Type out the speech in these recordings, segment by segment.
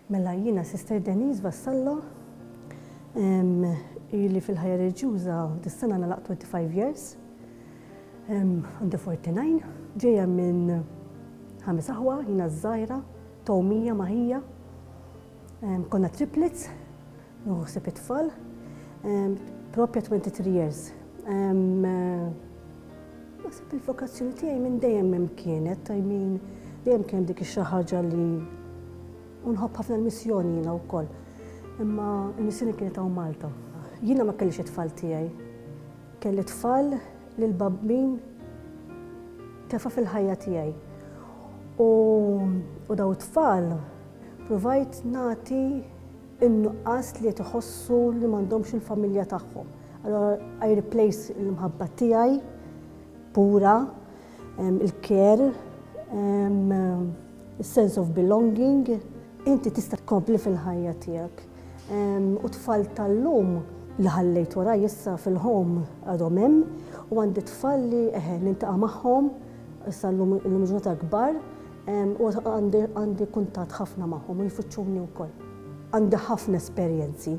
Mela jiena Sister Denise Vassallo, ili fil-ħajja reliġjuża dis-sena nagħlaq 25 years, għandi 49, ġejja minn ħames aħwa, jiena ż-żgħira, Tomie, Maħija, konna triplets, Nieħu ħsieb it-tfal. Proprja 23 years. Naħseb il-vokazzjoni tiegħi minn dejjem hemm kienet, I mean, dejjem kien dik xi ħaġa li u nħobb ħafna l-missjoni jiena wkoll. Imma l-missjoni kienet hawn Malta. Jiena ma kellix it-tfal tiegħi. Kelli tfal li l-babbin tefa' fil-ħajja tiegħi. U daw it-tfal provajt nagħti in-nuqqas li qed iħossu li m'għandhomx il-familja tagħhom. Allura I replace l-imħabba tiegħi pura, il-care, is-sense of belonging. Inti tista' tkompli fil-ħajja tiegħek. U tfal tal-lum li ħallejt wara issa fil-home għadhom hemm u għandi tfal li eħe niltaqa' magħhom issa llum il-ġurnata kbar U għandi kuntatt ħafna magħhom u jfittxuni wkoll. Għandi ħafna esperjenzi,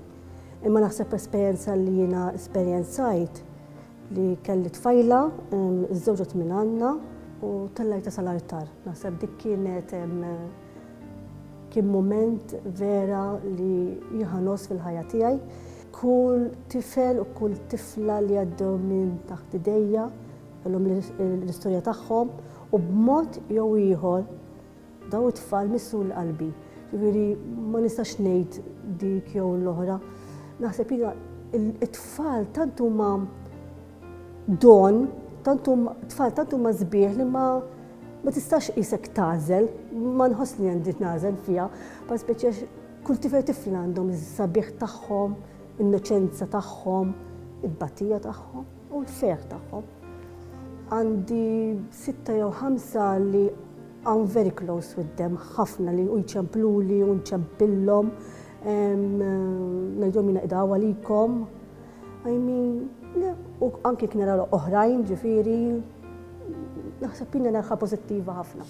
imma naħseb esperjenza li jiena esperjenzajt li kelli tfajla, żżewġet minn Anna u tellajtha sal-artar. Naħseb dik kienet kien mument vera li jien ħa ngħożż fil-ħajja tiegħi. Kull tifel u kull tifla li għaddew minn taħt idejja, Kellhom l-istorja tagħhom u b'mod jew ieħor dawn it-tfal missu l-qalbi. Jiġifieri ma nistax ngħid dik jew l-oħra. Naħseb jiena it-tfal tant huma don, tant tfal tant huma sbieħ li ma ma tistax isek tażel, ma nħoss li għandi nażel fiha, pa speċi għax kull tifel tifla għandhom is-sabiħ tagħhom, innoċenza tagħhom, il-batija tagħhom. u l-ħsejjaħ tagħhom. Għandi sitta jew ħamsa li I'm very close with them, ħafna li u jċempluli u nċempillhom, ngħidhom jina qdaw għalikom. I mean, u anki knera oħrajn ġifiri, naħseb jina nerħa pozittiva ħafna.